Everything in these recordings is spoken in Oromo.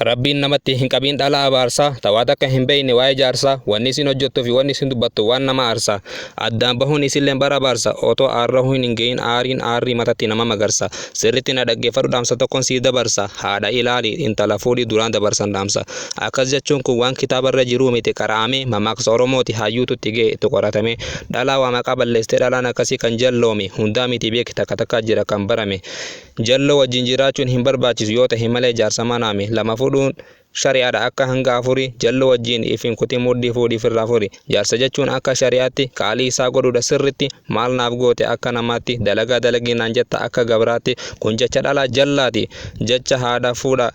Rabbiin namatti hin qabiin dhala abaarsa tawaa takka hin beeyne waa'ee jaarsa wanni isin hojjettuu fi wanni isin dubbattu waan nama aarsa addaan bahuun isilleen bara abaarsa otoo aarrahuu hin hin gahin aariin aarrii matatti nama magarsa sirritti na dhaggeeffadhu dhaamsa tokkon siif dabarsa haadha ilaali intala fuudhi duraan dabarsan dhaamsa akkas jechuun kun waan kitaabarra jiruu miti qara'amee mamaaksa oromooti hayyuutu itti ga'e itti qoratamee dhalaa waa maqaa balleessitee dhalaan akkasii kan jalloome hundaa miti beeki takka takkaa jira kan barame Jalloo wajjin jiraachuun hin barbaachisu yoo tahe malee jaarsa manaa mi. Lama fudhuun shari'aadha akka hanga afuri jalloo wajjin if hin kutin mudhii fuudhii firraa furi. Jaarsa jechuun akka shari'aatti qaalii isaa godhuudha sirritti maal naaf goote akka namaatti dalagaa dalagii naan jetta akka gabraatti kun jecha dhalaa jallaati jecha haadha fuudha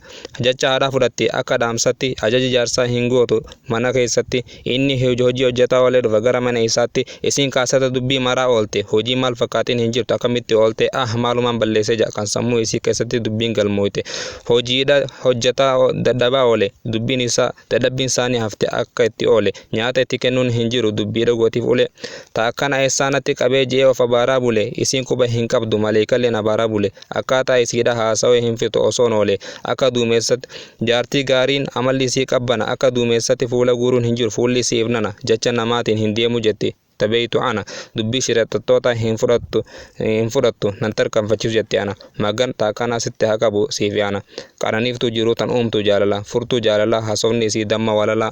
jecha haadhaa fudhatti akka dhaamsatti ajaja jaarsaa hin gootu mana keessatti Inni hojii hojjataa oolee dhufa gara mana isaatti. Isiin kaa sada dubbii maraa oolte. Hojii maal fakkaatiin hin jirtu akkamitti oolte? Ah maalumaan balleesse ja'a kan sammuu isii keessatti dubbiin galmooyte. Hojiidha hojjataa dadhabaa oole. Dubbiin isaa dadhabbiin saanii hafte akka itti oole. Nyaata itti kennuun hin jiru dubbii dhagootiif ulee. Ta akkana eessaa natti qabee je'ee of abaaraa bule. Isiin quba hin qabdu maleeykalleen abaaraa bule. Akkaataa isiidha haasawee hin fixu osoon oolee akka duumessatti Jaartii gaariin amalli isii qabbana akka duumessatti fuula guuruun hin jiru fuulli isii ifnana jacha namaatiin hin deemu jetti ta beeytu ana dubbii shirexaxxootaa hin fudhattu hin fudhattu nan tarkanfachiisu jetti ana magan ta akkanaa sitti haa qabu siifi ana qananiiftuu jiruu tan uumtuu jaalala furtuu jaalalaa hasofni isii damma walalaa